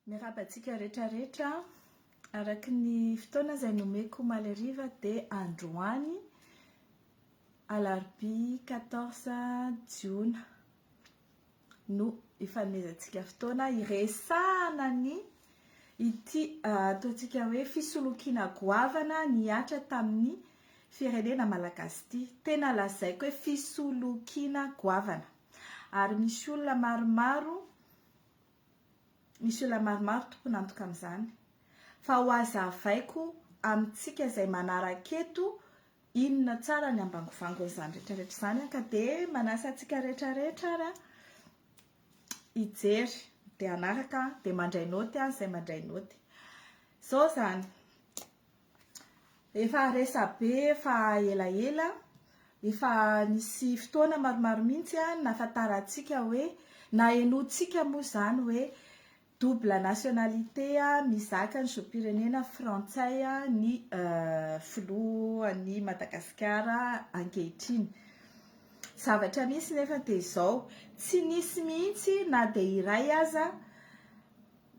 Miarahaba antsika rehetra rehetra, araka ny fotoana izay nomeko omaly hariva dia androany alarobia quatorze jiona. no ifanomezantsika fotoana hiresahana ny ity ataontsika hoe fisolokiana goavana nihatra tamin'ny firenena malagasy ity. Tena lazaiko hoe fisolokiana goavana. Ary misy olona maromaro, misy olona maromaro tompon'antoka amin'izany. Fa ho hazavaiko amintsika izay manaraka eto Inona tsara ny ambangovangon'izany rehetrarehetra izany an? Ka dia manasa antsika rehetrarehetra ary an, hijery dia hanaraka dia mandray naoty an, izay mandray naoty. Izao izany, efa resabe efa elaela, efa nisy fotoana maromaro mihitsy an, nahafantarantsika hoe, nahenoantsika moa izany hoe Double nationalité mizaka ny zom-pirenena frantsay ny filohan'i Madagasikara ankehitriny. Zavatra misy nefa dia izao, tsy nisy mihitsy na dia iray aza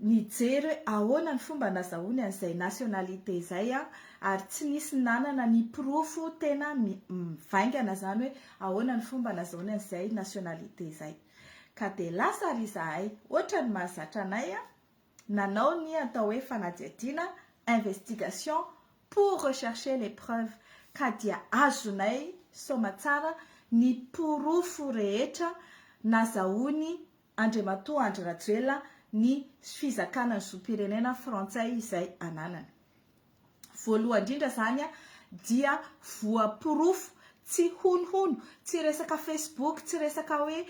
nijery hoe ahoana ny fomba nazahoany an'izay nationalité izay ary tsy nisy nanana ny porofo tena mivaingana izany hoe ahoana ny fomba nazahoany an'izay nationalité izay. Ka dia lasa ary izahay, otrany mahazatra anay an! nanao ny atao hoe fanadihadiana, investigation, pour rechercher les preuves, ka dia azonay soamatsara ny porofo rehetra nazahoany Andriamatoa Andry Rajoelina ny fizakana ny zom-pirenena frantsay izay ananany. Voalohany indrindra izany dia voaporofo tsy honohono, tsy resaka facebook, tsy resaka hoe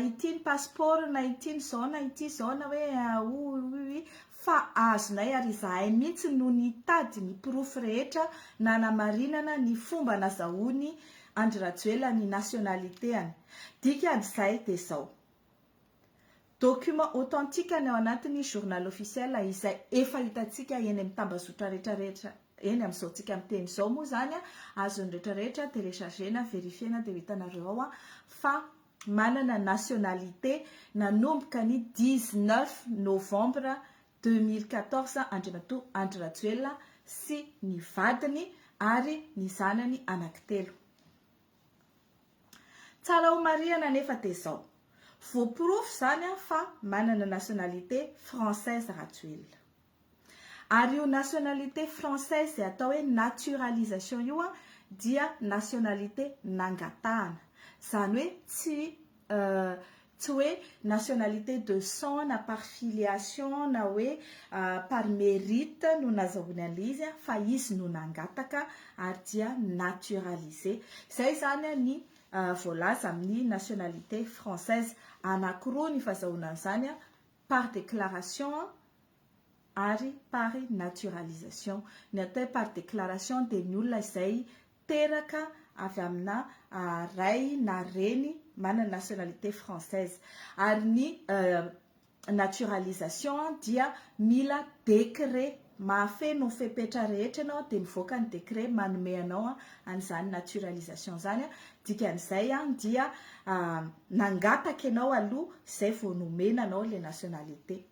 ity ny passeport na ity ny izao na ity izao na hoe ouiouiouii fa azonay ary izahay mihitsy no nitady ny porofo rehetra nanamarinana ny fomba nazahoan'i Andry Rajoelina ny nationalité-any. Dikan'izay dia izao. Documents authentiques ny ao anatin'ny Journal officiel izay efa hitantsika eny amin'ny tambazotra rehetra rehetra eny amin'izao tsika miteny izao moa izany azon'ny rehetra rehetra telechargena, verifiena dia ho hitanareo ao fa manana nationalité nanomboka ny dix neuf novembre deux mille quatorze Andriamatoa Andry Rajoelina sy ny vadiny ary ny zanany anankitelo. Tsara ho marihana anefa dia izao, voaporofo izany fa manana nationalité française Rajoelina. Ary io nationalité française izay atao hoe naturalisation io dia nationalité nangatahana. Izany hoe tsy Tsy hoe nationalité de sang na par filiation na hoe par mérite no nazahoany an'ilay izy fa izy no nangataka ary dia naturalisé. Izay izany ny voalaza amin'ny nationalité française. Anankiroa ny fazahoana an'izany, par déclaration, ary par naturalisation. Ny atao hoe par déclaration dia ny olona izay teraka avy amina ray na reny manana nationalité française. Ary ny naturalisation dia mila décret. Mahafeno ny fepetra rehetra ianao dia mivoaka ny décret manome anao an'izany naturalisation izany. Dikan'izay dia nangataka ianao aloha izay vao nomena anao ilay nationalité.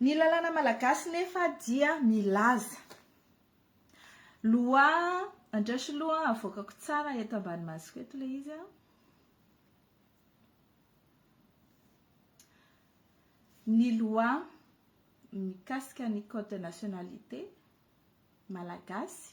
Ny lalàna malagasy nefa dia milaza. Loi, andraso aloha havoakako tsara eto ambany masoko eto ilay izy an. Ny loi mikasika ny code de nationalité malagasy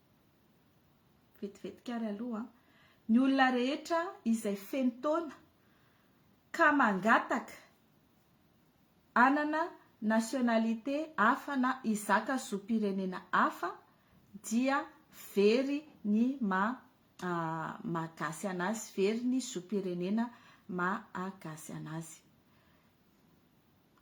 Vetivetika ary aloha an! Ny olona rehetra izay feno taona ka mangataka hanana nationalité hafa na hizaka zom-pirenena hafa dia very ny maha-gasy anazy, very ny zom-pirenena maha-gasy anazy.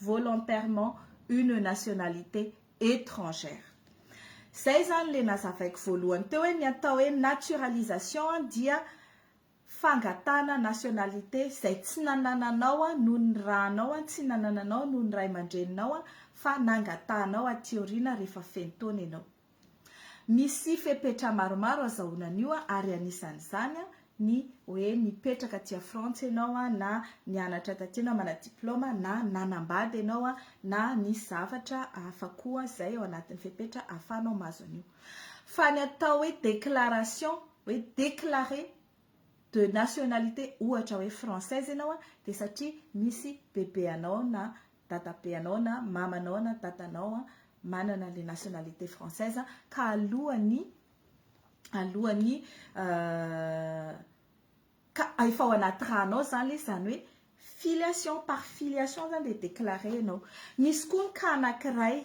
volontairement une nationalité étrangère. Izay izany ilay nazavaiko voalohany teo hoe ny atao hoe naturalisation dia fangatahana nationalité izay tsy nanananao noho ny ranao, tsy nanananao noho ny ray aman-dreninao fa nangatahanao aty aoriana rehefa feno taona ianao. Misy fepetra maromaro azahoana an'io ary anisan'izany ny hoe nipetraka aty a Frantsa ianao na nianatra taty ianao manana diplaoma na nanambady ianao na nisy zavatra hafa koa izay ao anatin'ny fepetra ahafahanao mahazo an'io. Fa ny atao hoe déclaration hoe déclaré de nationalité ohatra hoe française ianao dia satria misy bebeanao na dadabe anao na mamanao na dadanao an, manana le nationalité française an, ka alohan'ny alohan'ny ka efa ao anaty ranao zany le izy zany hoe filiation par filiation zany le déclaré ianao. Misy koa ny cas anankiray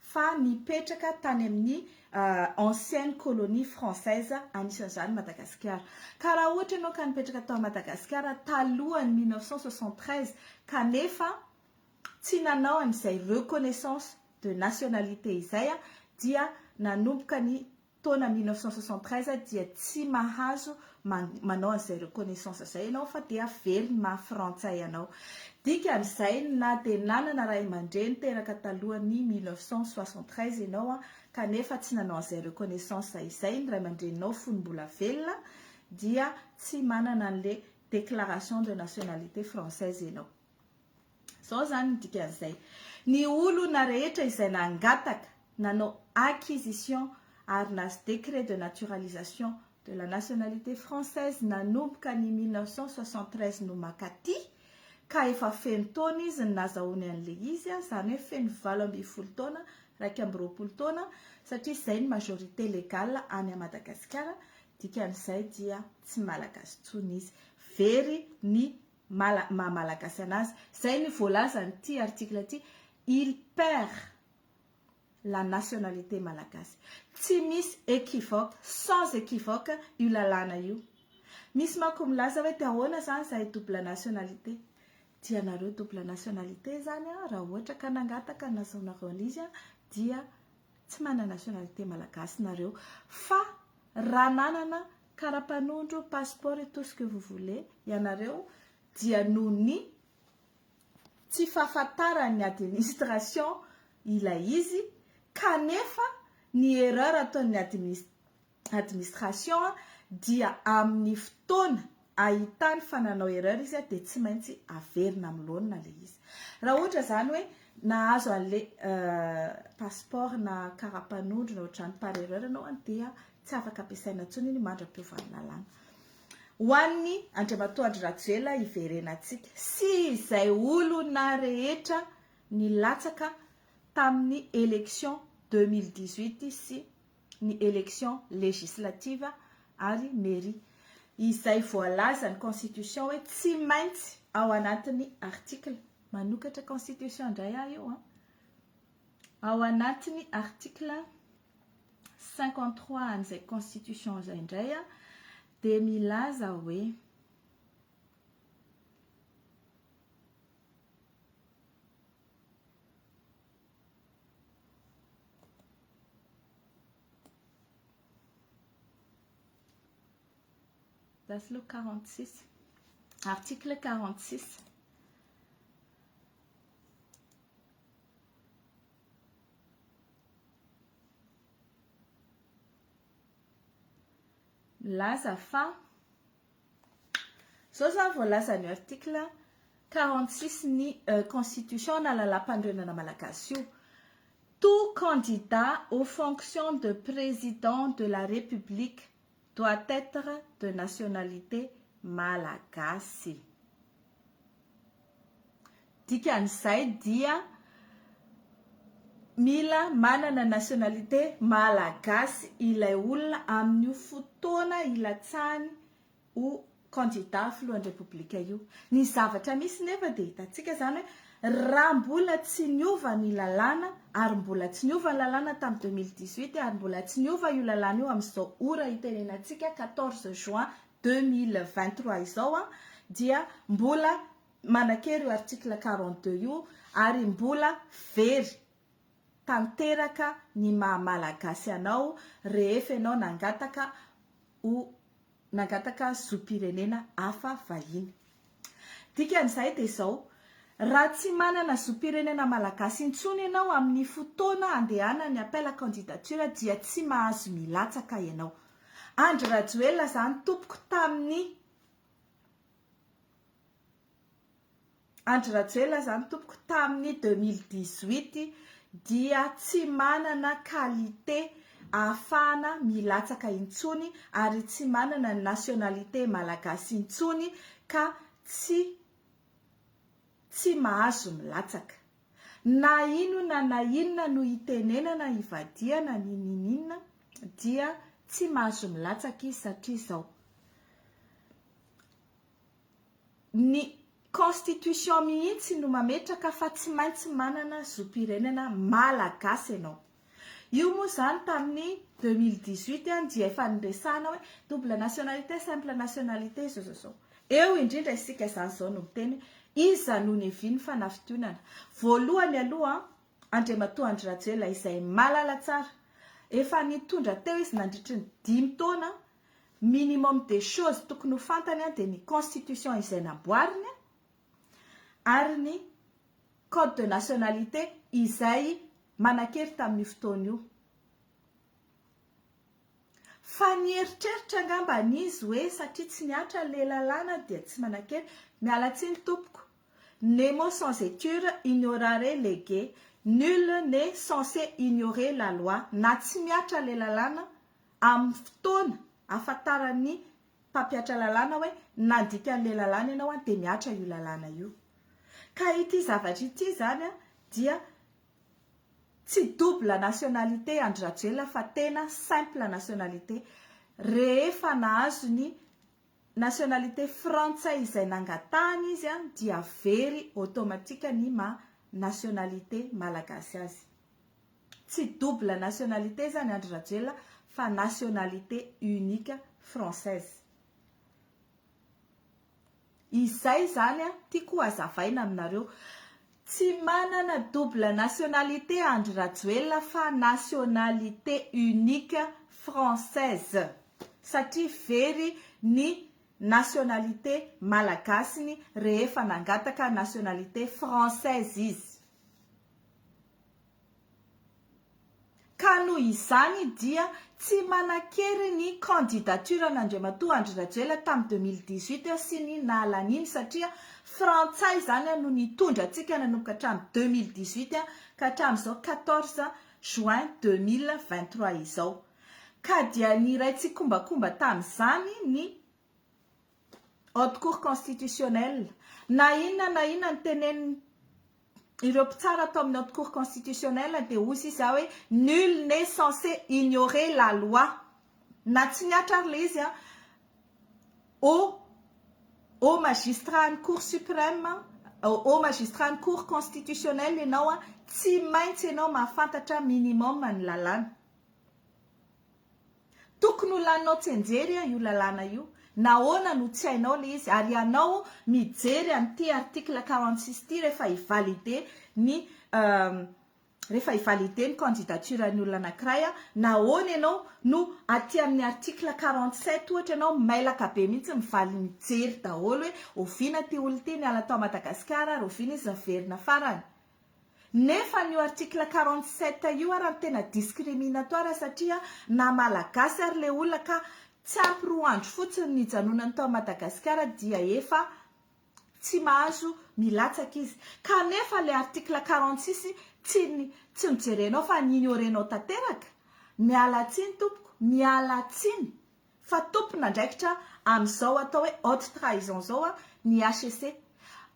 fa nipetraka tany amin'ny ancienne colonie française, anisan'izany Madagasikara. Ka raha ohatra ianao ka nipetraka tao Madagasikara talohan'ny mille neuf cent soixante-treize kanefa tsy nanao an'izay reconnaissance de nationalité izay dia nanomboka ny taona mille neuf cent soixante treize dia tsy mahazo manao an'izay reconnaissance izay ianao fa dia very ny maha frantsay anao. Dikan'izay na dia nanana ray aman-dreny teraka talohan'ny mille neuf cent soixante treize ianao kanefa tsy nanao an'izay reconnaissance izay ny ray aman-dreninao fony mbola velona dia tsy manana an'ilay déclaration de nationalité française ianao. Izao izany ny dikan'izay, ny olona rehetra izay nangataka, nanao acquisition ary nahazo décret de naturalisation de la nationalité française nanomboka ny mille neuf cent soixante treize no mankaty ka efa feno taona izy ny nazahoany an'ilay izy, izany hoe feno valo ambin'ny folo taona, iraika amby roapolo taona, satria izay ny majorité légale any Madagasikara, dikan'izay dia tsy Malagasy intsony izy. Very ny maha malagasy anazy. Izay ny voalazan'ity article ity, il perd la nationalité malagasy. Tsy misy equivoque, sans equivoque io lalàna io. Misy manko milaza hoe dia ahoana izany izahay double nationalité. Dia ianareo double nationalité izany raha ohatra ka nangataka ny nazahoanareo an'izy dia tsy manana nationalité malagasy nareo fa raha nanana Kara mpanondro passeport et tout ce que vous voulez ianareo dia noho ny tsy fahafantaran'ny administration ilay izy kanefa ny erreur ataon'ny administ administration dia amin'ny fotoana ahitany fa nanao erreur izy dia tsy maintsy averina amin'ny laonina ilay izy. Raha ohatra izany hoe nahazo an'ilay passeport na kara mpanondro na ohatr'izany par erreur ianao dia Tsy afaka ampiasaina intsony iny mandra-peo vahalalana. Ho an'ny Andriamatoa Andry Rajoelina hiverenantsika sy izay olona rehetra nilatsaka tamin'ny élection deux mille dix-huit sy ny élection législative ary mairie izay voalazan'ny constitution hoe tsy maintsy ao anatin'ny article manokatra constitution indray aho io an! Ao anatin'ny article cinquante trois an'izay constitution izay indray dia milaza hoe That's le 46. Article 46. Milaza fa, izao izany voalaza an'io article quarante six ny constitution na lalàmpanorenana malagasy io, tout candidat aux fonctions de président de la république doit etre de nationalité malagasy. Dikan'izay dia mila manana nationalité malagasy ilay olona amin'io fotoana ilatsahany ho kandida filohan'ny Repoblika io. Ny zavatra misy nefa dia hitantsika izany hoe raha mbola tsy niova ny lalàna ary mbola tsy niova ny lalàna tamin'ny deux mille dix-huit ary mbola tsy niova io lalàna io amin'izao ora itenenantsika quatorze juin deux mille vingt-trois izao an, dia mbola manan-kery io article quarante deux io ary mbola very tanteraka ny maha malagasy anao rehefa ianao nangataka ho nangataka zom-pirenena hafa vahiny. Dikan'izay dia izao, raha tsy manana zom-pirenena malagasy intsony ianao amin'ny fotoana handehanan'ny appel à candidature dia tsy mahazo milatsaka ianao. Andry Rajoelina izany tompoko tamin'ny. Andry Rajoelina zany tompoko tamin'ny deux mille dix huit dia tsy manana qualité ahafahana milatsaka intsony ary tsy manana ny nationalité malagasy intsony ka tsy tsy mahazo milatsaka. Na inona na inona no itenenana ivadihana ny nininina dia tsy mahazo milatsaka izy satria zao. Ny constitution mihitsy no mametraka fa tsy maintsy manana zom-pirenena Malagasy ianao. Io moa izany tamin'ny 2018 an dia efa niresahana hoe double nationalité, simple nationalité izao izao izao. Eo indrindra isika izany izao no miteny hoe iza no niavian'ny fanafintoinana. Voalohany aloha Andriamatoa Andry Rajoelina izay malala tsara. Efa nitondra teo izy nandritry ny dimy taona. minimum des choses tokony ho fantany dia ny constitution izay namboariny ary ny code de nationalité izay manan-kery tamin'io fotoana io. Fa nieritreritra angamba izy hoe satria tsy nihatra ilay lalàna dia tsy manan-kery. Miala tsiny tompoko. Nemo sans éture ignorare lege. Nul n'est censé ignorer la loi. Na tsy mihatra ilay lalàna amin'ny fotoana ahafantaran'ny mpampiatra lalàna hoe nandika an'ilay lalàna ianao dia mihatra io lalàna io. Ka ity zavatra ity izany dia tsy double nationalité Andry Rajoelina fa tena simple nationalité. Rehefa nahazo ny nationalité frantsay izay nangatahany izy dia very automatique ny maha nationalité malagasy azy. Tsy double nationalité zany Andry Rajoelina fa nationalité unique française. Izay zany an, tiako ho azavaina aminareo. Tsy manana double nationalité Andry Rajoelina fa nationalité unique française. Satria very ny nationalité malagasiny rehefa nangataka nationalité française izy. ka noho izany dia tsy manan-kery ny candidature an'Andriamatoa Andry Rajoelina tamin'ny deux mille dix-huit sy ny naha laniny satria frantsay izany no nitondra antsika nanomboka hatramin'ny deux mille dix-huit ka hatramin'izao quatorze juin deux mille vingt-trois izao ka dia niray tsikombakomba tamin'izany ny haute cour constitutionnelle, na inona na inona ny tenenin ireo mpitsara ato amin'ny haute cour constitutionnelle dia hoy sisa aho hoe nul n'est censé ignorer la loi na tsy mihatra ary ilay izy haut haut magistrat an'ny cour supreme haut magistrat an'ny cour constitutionnelle ianao tsy maintsy ianao mahafantatra minimum ny lalàna Tokony ho laninao tsenjery a io lalàna io, nahoana no tsy hainao le izy ary ianao mijery an'ity article quarante six ity rehefa hi-valider ny rehefa hi-valider ny candidature an'ny olona anankiray a, nahoana ianao no aty amin'ny article quarante sept ohatra ianao mailaka be mihitsy mivaly mijery daholo hoe oviana ity olona ity niala tao Madagasikara ary oviana izy niverina farany? Nefa an'io article quarante sept io ara no tena discriminatoire satria na malagasy ary le olona ka tsy ampy roa andro fotsiny nijanonany tao Madagasikara dia efa tsy mahazo milatsaka izy kanefa le article quarante six tsy tsy nojerenao fa ni-ignorenao tanteraka, miala tsiny tompoko, miala tsiny. Fa tompon'andraikitra amin'izao atao hoe haute trahison izao ny HCC.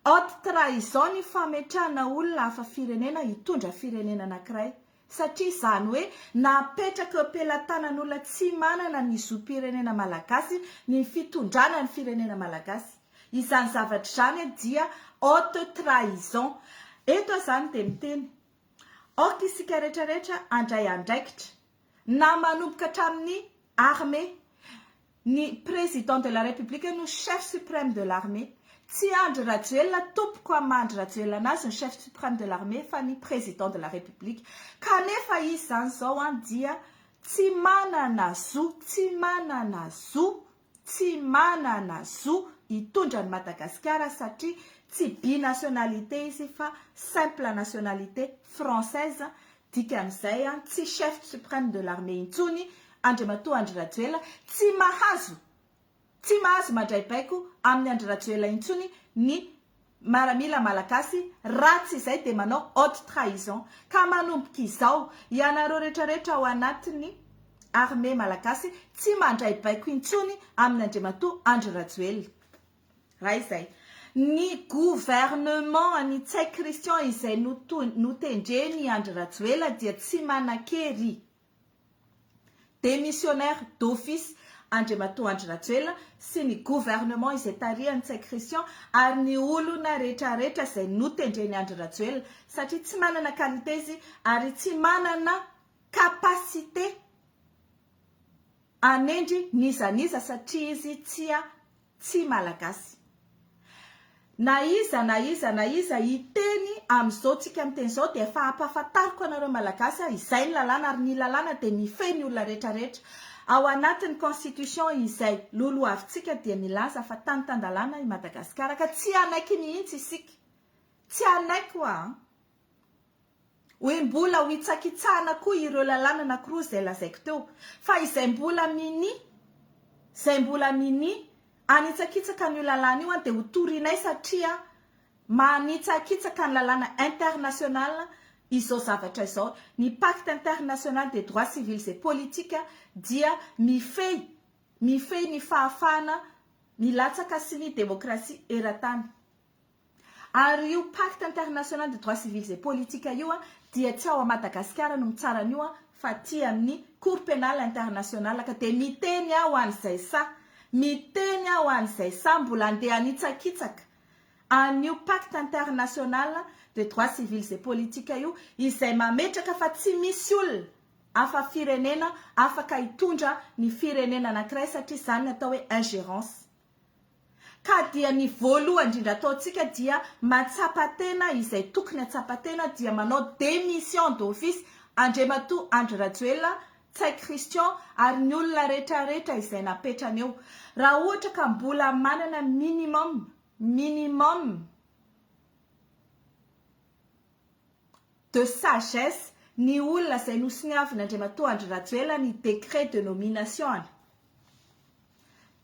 Haute trahison ny fametrahana olona hafa firenena hitondra firenena anankiray. Satria izany hoe napetraka eo am-pelatanan'olona tsy manana ny zom-pirenena malagasy ny fitondrana ny firenena malagasy. Izany zavatra izany dia haute trahison. Eto aho izany dia miteny. Aoka isika rehetra rehetra handray andraikitra. Na manomboka hatramin'ny armée. Ny président de la république no chef suprême de l'armée. Tsy Andry Rajoelina tompoko am Andry Rajoelina anazy ny chef suprême de l'armée fa ny président de la république. Kanefa izy zany zao an dia tsy manana zo, tsy manana zo, tsy manana zo hitondra an'i Madagasikara satria tsy binationalité izy fa simple nationalité française, dikan'izay tsy chef supreme de l'armée intsony Andriamatoa Andry Rajoela, tsy mahazo tsy mahazo mandray baiko amin'i Andry Rajoela intsony ny maramila malagasy ratsy izay dia manao haute trahison ka manomboka izao ianareo retraretra ao anatiny armée malagasy tsy mandray baiko intsony aminy Andriamatoa Andry Rajoelina raha izay ny gouvernement any Ntsay Christian izay notendreny Andry Rajoela dia tsy manakery Démissionnaire d'office Andriamatoa Andry Rajoelina sy ny gouvernement izay tarihan'i Ntsay Christian ary ny olona retraretra izay notendren'i Andry Rajoelina satria tsy manana qualité izy ary tsy manana capacité Hanendry n'iza n'iza satria izy tsia tsy malagasy. Na iza na iza na iza hiteny amin'izao tsika miteny izao dia efa ampahafantariko anareo malagasy aho izay ny lalàna ary ny lalàna dia mifehy ny olona rehetra rehetra. Ao anatin'ny constitution izay lolohavintsika dia milaza fa tany tan-dalàna i Madagasikara ka tsy hanaiky mihitsy isika. Tsy hanaiky ho'a an! Hoe mbola ho hitsakitsahana koa ireo lalàna anakiroa izay lazaiko teo, fa izay mbola minia, izay mbola minia hanitsakitsaka an'io lalàna io dia ho torinay satria manitsakitsaka ny lalàna international izao zavatra izao. Ny pacte international des droits civils et politiques dia mifehy, mifehy ny fahafahana milatsaka sy ny demokrasia eran-tany. Ary io pacte international de droits civils et politiques io dia tsy ao à Madagascar no mitsara an'io fa aty amin'ny cour penale internationale ka dia miteny aho an'izay sahy miteny aho an'izay sahy mbola andeha hanitsakitsaka an'io pacte international de droits civils et politiques io izay mametraka fa tsy misy olona afa firenena afaka hitondra ny firenena anankiray satria izany ny atao hoe ingérence Ka dia ny voaloha indrindra ataontsika dia matsapa tena izay tokony atsapa tena dia manao démission d'office Andriamatoa Andry Rajoelina, Ntsay Christian ary ny olona retraretra izay napetrany eo. Raha ohatra ka mbola manana minimum, minimum, de sagesse ny olona izay nosoniavin' Andriamatoa Andry Rajoelina ny décret de nomination-ny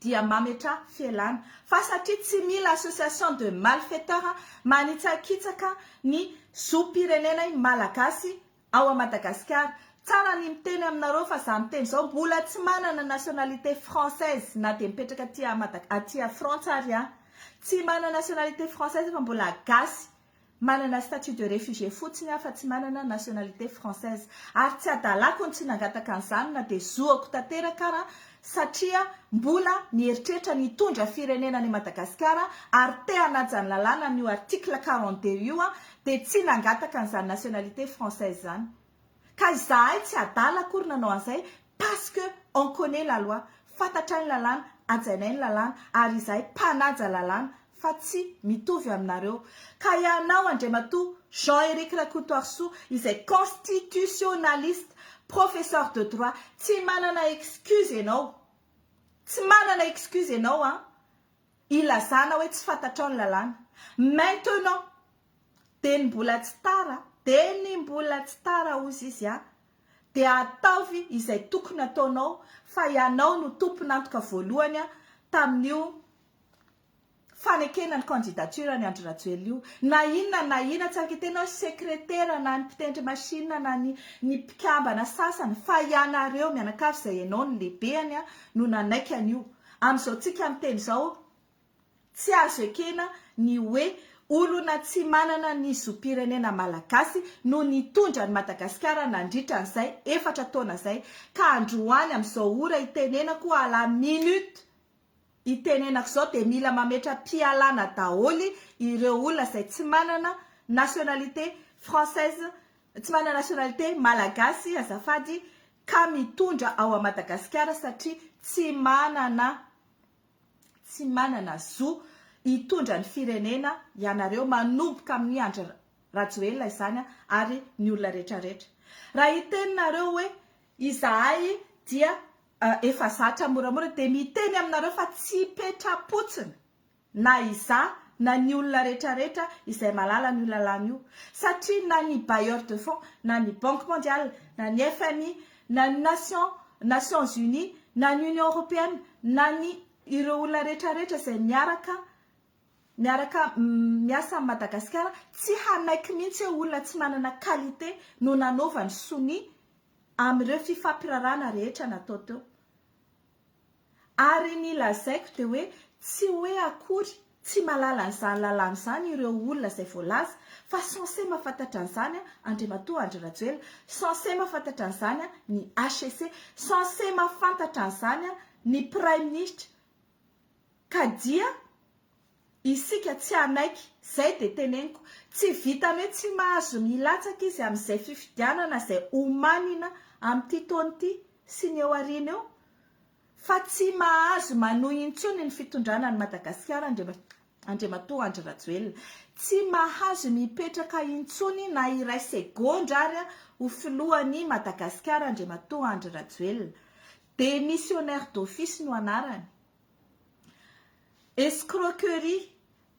dia mametraha fialana fa satria tsy mila association de malfaiteurs manitsakitsaka ny zom-pirenenay malagasy ao a Madagasikara. Tsara ny miteny aminareo fa za miteny zao mbola tsy manana nationalité française na dia mipetraka aty a Madag aty a Frantsa ary aho. Tsy manana nationalité française fa mbola gasy Manana statut de réfugié fotsiny aho fa tsy manana nationalité française ary tsy adalako ny tsy nangataka an'izany na dia zoako tanteraka ara satria mbola mieritreritra ny hitondra firenena any Madagasikara ary te hanaja ny lalàna an'io article quarante deux io aho dia tsy nangataka an'izany nationalité française izany. Ka izahay tsy adala akory nanao an'izay parce que on connait la loi, fantatray ny lalàna, hajainay ny lalàna ary izahay mpanaja lalàna fa tsy mitovy aminareo. Ka ianao Andriamatoa Jean Eric Rakotoarisoa izay constitutionnaliste, professeur de droit tsy manana excuse ianao, tsy manana excuse ianao an! Ilazana hoe tsy fantatrao ny lalàna. Maintenant, dia ny mbola tsy tara, dia ny mbola tsy tara hozy izy a! dia ataovy izay tokony ataonao fa ianao no tompon'antoka voalohany tamin'io fanekena ny candidature an'i Andry Rajoelina io. Na inona na inona, tsy afaka hiteny hoe sekretera na ny mpitendry machine na ny ny mpikambana sasany fa ianareo mianakavy izay ianao no lehibeny no nanaiky an'io. Amin'izao tsika miteny izao tsy azo ekena ny hoe olona tsy manana ny zom-pirenena malagasy no nitondra an'i Madagasikara nandritra an'izay efatra taona izay ka androany amin'izao ora itenenako à la minute itenenako izao dia mila mametra-pialana daholo ireo olona izay tsy manana nationalité française Tsy manana nationalité malagasy azafady ka mitondra ao à Madagasikara satria tsy manana tsy manana zo hitondra ny firenena ianareo manomboka amin'ny Andry Rajoelina izany ary ny olona rehetra rehetra. Raha hiteny nareo hoe izahay dia efa zatra moramora dia miteny aminareo fa tsy petra-potsiny. na izaho na ny olona retraretra izay malala an'io lalàna io, satria na ny bailleurs de fonds, na ny banque mondiale, na ny FMI, na ny Nations Nations Unies, na ny Union Européenne, na ny ireo olona retraretra izay miaraka miaraka miasa amin'i Madagasikara, tsy hanaiky mihitsy hoe olona tsy manana qualité no nanaovany sonia amin'ireo fifampirarahana rehetra natao teo. Ary ny lazaiko dia hoe tsy hoe akory tsy mahalala an'izany lalàna izany ireo olona izay voalaza fa censé mahafantatra an'izany Andriamatoa Andry Rajoelina, censé mahafantatra an'izany ny HCC, censé mahafantatra an'izany ny Praiminisitra ka dia Isika tsy hanaiky, zay de teneniko, tsy vitany hoe tsy mahazo ny hilatsaka izy amin'izay fifidianana izay homanina amin'ity taona ity sy ny eo aoriana eo, fa tsy mahazo manohy intsony ny fitondrana an'i Madagasikara Andriamatoa Andry Rajoelina. Tsy mahazo ny hipetraka intsony na iray segondra ary ho filohan'i Madagasikara Andriamatoa Andry Rajoelina. Démissionnaire d'office no anarany. escroquerie,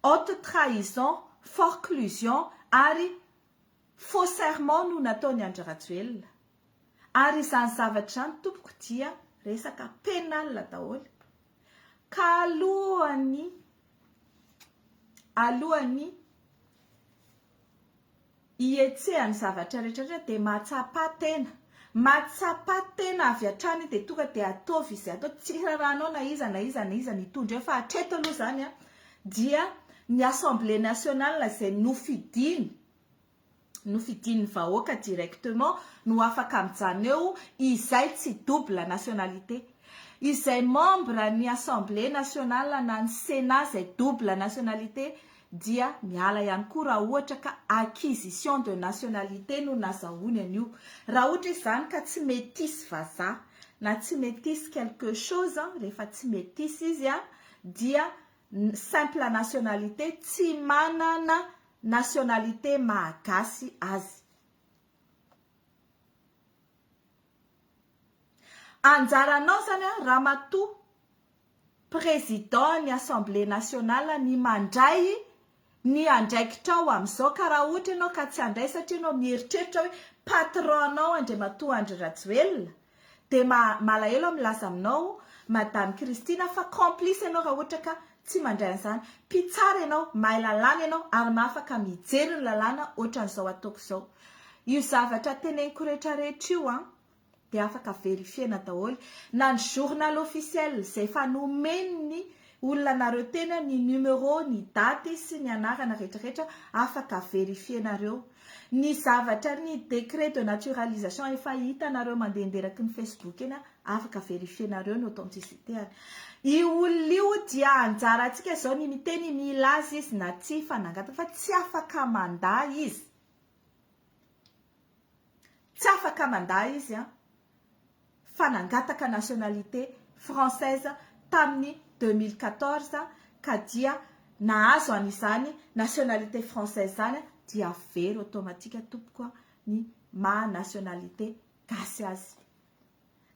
haute trahison, forclusion ary faux serment no nataon'i Andry Rajoelina. Ary izany zavatra izany tompoko dia resaka pénal daholo. Ka alohan'ny alohan'ny Ihetsehan'ny zavatra rehetrarehetra dia mahatsapa tena. Mahatsapa tena avy hatrany dia tonga dia ataovy izay atao. Tsy hirarahanao na iza na iza na iza ny hitondra eo fa hatreto aloha izany dia ny assemblée nationale izay nofidiny, nofidin'ny vahoaka directement no afaka mijanona eo izay tsy double nationalité. Izay membre ny assemblée nationale na ny sénat izay double nationalité dia miala ihany koa raha ohatra ka acquisition de nationalité no nazahoany an'io. Raha ohatra izy izany ka tsy métisse vazaha na tsy métisse quelque chose, rehefa tsy métisse izy dia simple nationalité, tsy manana nationalité mahagasy azy. Anjaranao izany Ramatoa Président ny Assemblée Nationale ny mandray ny andraikitrao amin'izao ka raha ohatra ianao ka tsy handray satria ianao mieritreritra hoe patron-nao Andriamatoa Andry Rajoelina dia malahelo aho milaza aminao Madame Christine fa complice ianao raha ohatra ka tsy mandray an'izany. Mpitsara ianao, mahay lalàna ianao ary mahafaka mijery ny lalàna ohatran'izao ataoko izao. Io zavatra teneniko rehetra rehetra io an! dia afaka verifiena daholo na ny journal officiel izay efa nomen'ny olona anareo tena ny numéro, ny daty sy ny anarana rehetra rehetra afaka verifienareo. Ny zavatra ny décret de naturalisation efa hitanareo mandehandeha eraky ny facebook eny afaka verifienareo ny authenticité-any. Io olona io dia anjarantsika izao ny miteny mila azy izy na tsia fa nangataka fa tsy afaka mandà izy. Tsy afaka mandà izy an! Fa nangataka nationalité française tamin'ny deux mille quatorze ka dia nahazo an'izany nationalité française izany dia very automatique tompoko an! ny maha nationalité gasy azy.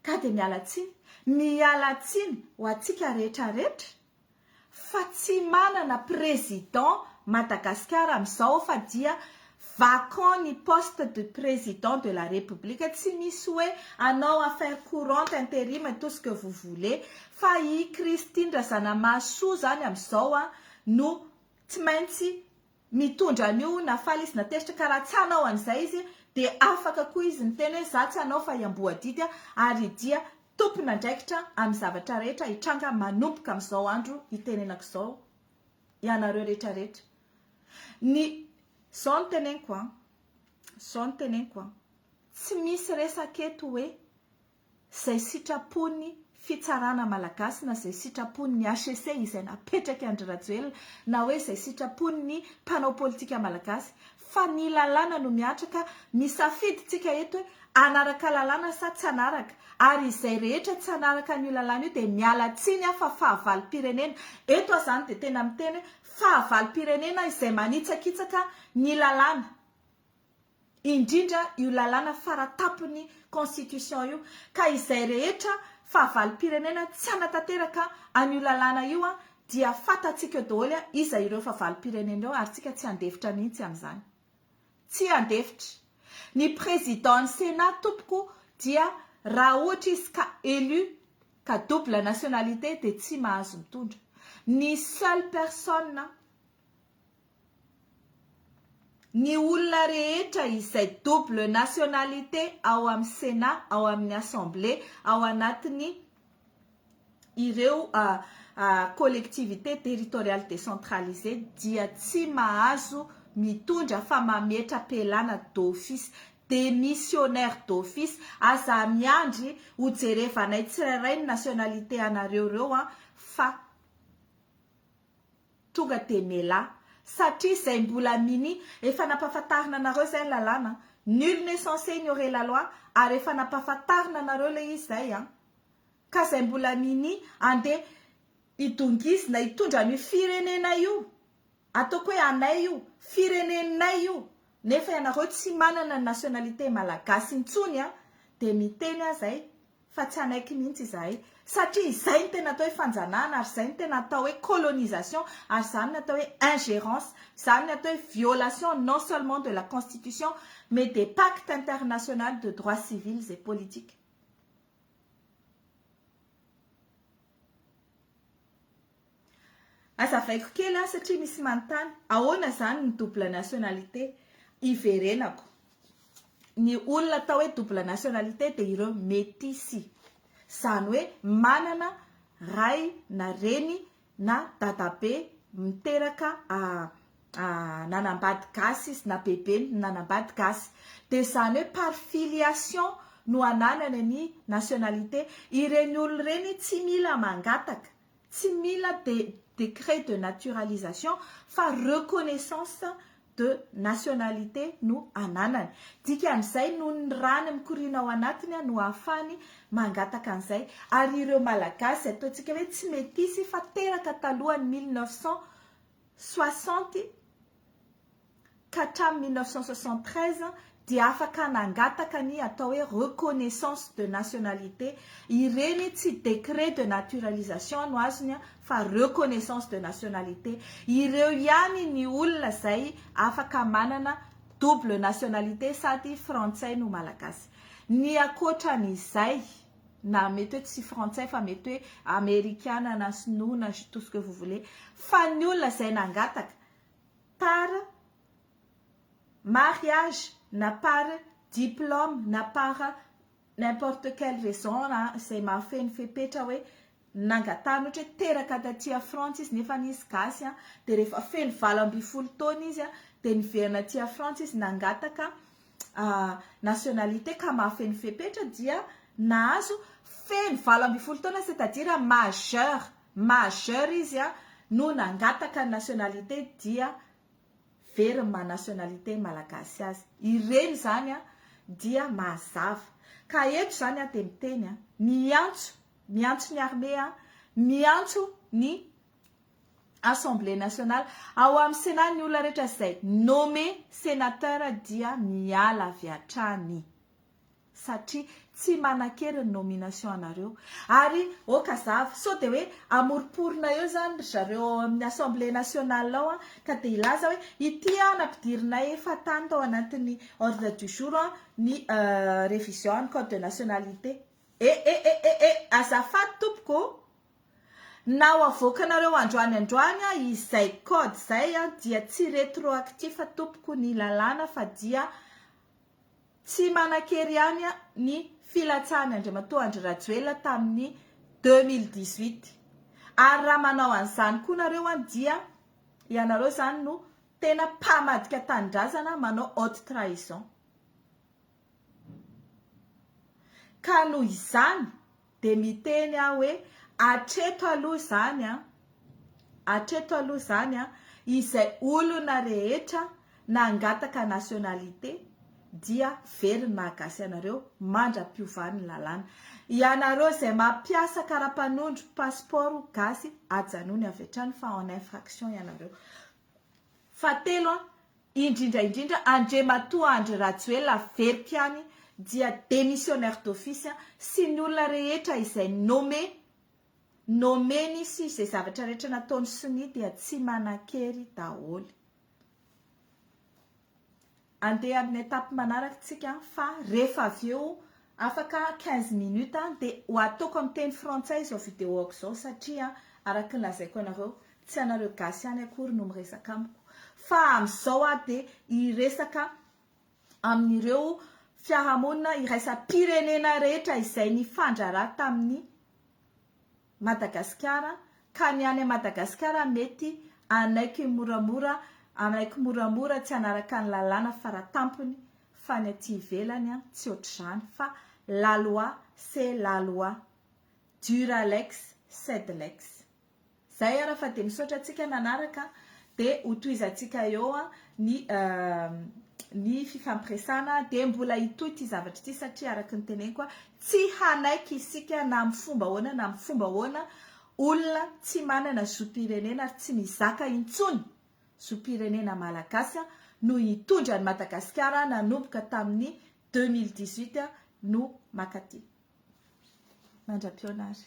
Ka dia miala tsiny, miala tsiny ho antsika rehetra rehetra. fa tsy manana président Madagascar amizao fa dia vacant ny poste de président de la république tsy misy hoe anao affaire courante interim tout ce que vous voulez fa i Christine Razanamahasoa zany amizao an no tsy maintsy Mitondra an'io na faly izy na tezitra ka raha tsy hanao an'izay izy dia afaka koa izy miteny hoe za tsy hanao fa hiamboadidy ary dia tompon'andraikitra amin'ny zavatra rehetra hitranga manomboka amin'izao andro itenenako izao ianareo rehetra rehetra ny zao no teneniko an zao no teneniko an tsy misy resaka eto hoe izay sitrapon'ny fitsarana malagasy na izay sitrapon'ny HCC izay napetraky Andry Rajoelina na hoe izay sitrapon'ny mpanao politika malagasy fa ny lalàna no mihatra ka misafidy tsika eto hoe hanaraka lalàna sa tsy hanaraka ary izay rehetra tsy hanaraka an'io lalàna io dia miala tsiny aho fa fahavalom-pirenena eto aho izany dia tena miteny hoe fahavalom-pirenena izay manitsakitsaka ny lalàna indrindra io lalàna faratapony constitution io ka izay rehetra fahavalom-pirenena tsy hanatanteraka an'io lalàna io dia fantatsika eo daholo iza ireo fahavalom-pirenena ireo ary tsika tsy handefitra mihitsy amin'izany tsy handefitra ny président ny sénat tompoko dia raha ohatra izy ka élu ka double nationalité dia tsy mahazo mitondra ny seule personne Ny olona rehetra izay double nationalité ao amin'ny Sénat, ao amin'ny Assemblée, ao anatin'ny ireo collectivités territoriales décentralisées dia tsy mahazo mitondra fa mametra-pialana d'office, démissionnaire d'office. Aza miandry ho jerevanay tsirairay ny nationalité anareo ireo an, fa. Tonga dia melà satria izay mbola minie efa nampahafantarina anareo izay ny lalàna an! Nul n'est censé ignorer la loi ary efa nampahafantarina anareo ilay izy izay an! Ka izay mbola minie andeha hidongizina hitondra an'io firenena io, ataoko hoe anay io, fireneninay io, nefa ianareo tsy manana ny nationalité malagasy intsony an! Dia miteny aho izay fa tsy hanaiky mihitsy izahay satria izay no tena atao hoe fanjanahana ary izay no tena atao hoe colonisation ary izany no atao hoe ingérence, izany no atao hoe violation non seulement de la constitution mais des pactes internationales de droits civils et politiques. Azavaiko kely an satria misy manontany, ahoana izany ny double nationalité? Iverenako. Ny olona atao hoe double nationalité dia ireo metisy. Izany hoe manana ray na reny na dadabe miteraka nanambady gasy izy na bebeny nanambady gasy. Dia izany hoe par filiation no ananany ny nationalité. Ireny olona ireny tsy mila mangataka Tsy mila de décret de naturalisation fa reconnaissance de nationalité no ananany. Dikan'izay noho ny rany mikoriana ao anatiny no ahafahany mangataka an'izay. Ary ireo Malagasy ataontsika hoe tsy metisy fa teraka talohan'ny mille neuf cent soixante, ka hatramin'ny mille neuf cent soixante-treize dia afaka nangataka ny atao hoe reconnaissance de nationalité, ireny tsy décret de naturalisation no azony fa reconnaissance de nationalité, ireo ihany ny olona izay afaka manana double nationalité sady frantsay no malagasy. Ny ankoatran'izay na mety hoe tsy frantsay fa mety hoe amerikana na sinoa na tout ce que vous voulez fa ny olona izay nangataka par mariage na par diplôme na par n'importe quelle raison na izay mahafehy ny fepetra hoe nangatahana ohatra hoe teraka taty à Frantsa izy nefa izy gasy dia rehefa feno valo ambin'ny folo taona izy dia niverina aty à Frantsa izy nangataka nationalité ka mahafehy ny fepetra dia nahazo feno valo ambin'ny folo taona c'est à dire majeur. majeur izy a no nangataka ny nationalité dia very ny maha nationalité malagasy azy ireny zany a dia mazava ka eto zany aho dia miteny a miantso miantso ny armée a miantso ny assemblée nationale ao amin'ny sénat ny olona rehetra izay nommé sénateur dia miala avy hatrany satria tsy manankery ny nomination anareo ary ok azava sao dia hoe amoriporina eo izany ry zareo ao amin'ny assemblée nationale ao an, ka dia hilaza hoe ity an nampidirinay efa tany tao anatin'ny ordre du jour an ny révision an'ny code de nationalité e e e e e azafady tompoko o! na ho avoakanareo androany androany an izay code izay an dia tsy retroactif tompoko ny lalàna fa dia Tsy manan-kery ihany ny filatsahan'ny Andriamatoa Andry Rajoelina tamin'ny deux mille dix-huit. Ary raha manao an'izany koa nareo dia ianareo izany no tena mpamadika tanindrazana manao haute trahison. Ka noho izany Dia miteny aho hoe, Hatreto aloha izany an! Hatreto aloha izany an! Izay olona rehetra nangataka nationalité dia very ny maha gasy anareo mandra-piovan'ny lalàna. Ianareo izay mampiasa karapanondro passeport ho gasy ajanony avy hatrany fa en infraction ianareo. Fahatelo an! indrindra indrindra Andriamatoa Andry Rajoelina averiko any dia démissionnaire d'office sy ny olona rehetra izay nommé nommé-ny sy izay zavatra rehetra nataony sonia dia tsy manan-kery daholo. Andeha amin'ny étape manaraka tsika fa rehefa avy eo Afaka quinze minutes an, dia ho ataoko amin'ny teny frantsay izao videoako izao satria araka ny lazaiko anareo tsy anareo gasy ihany akory no miresaka amiko fa amin'izao aho dia hiresaka amin'ireo fiarahamonina iraisam-pirenena rehetra izay nifandraharaha tamin'ny Madagasikara, ka ny any Madagasikara mety hanaiky moramora hanaiky moramora tsy hanaraka ny lalàna faratampony fa ny aty ivelany an tsy ohatr'izany fa la loi c'est la loi dura lex sed lex zay ara fa dia misaotra antsika nanaraka dia ho tohizantsika eo ny ny fifampiresana dia mbola hitohy ity zavatra ity satria araka ny teneniko Tsy hanaiky isika na amin'ny fomba ahoana na amin'ny fomba ahoana olona tsy manana zom-pirenena ary tsy mizaka intsony zom-pirenena malagasy no hitondra an'i Madagasikara nanomboka tamin'ny deux mille dix-huit no makaty mandra-pihaona ary.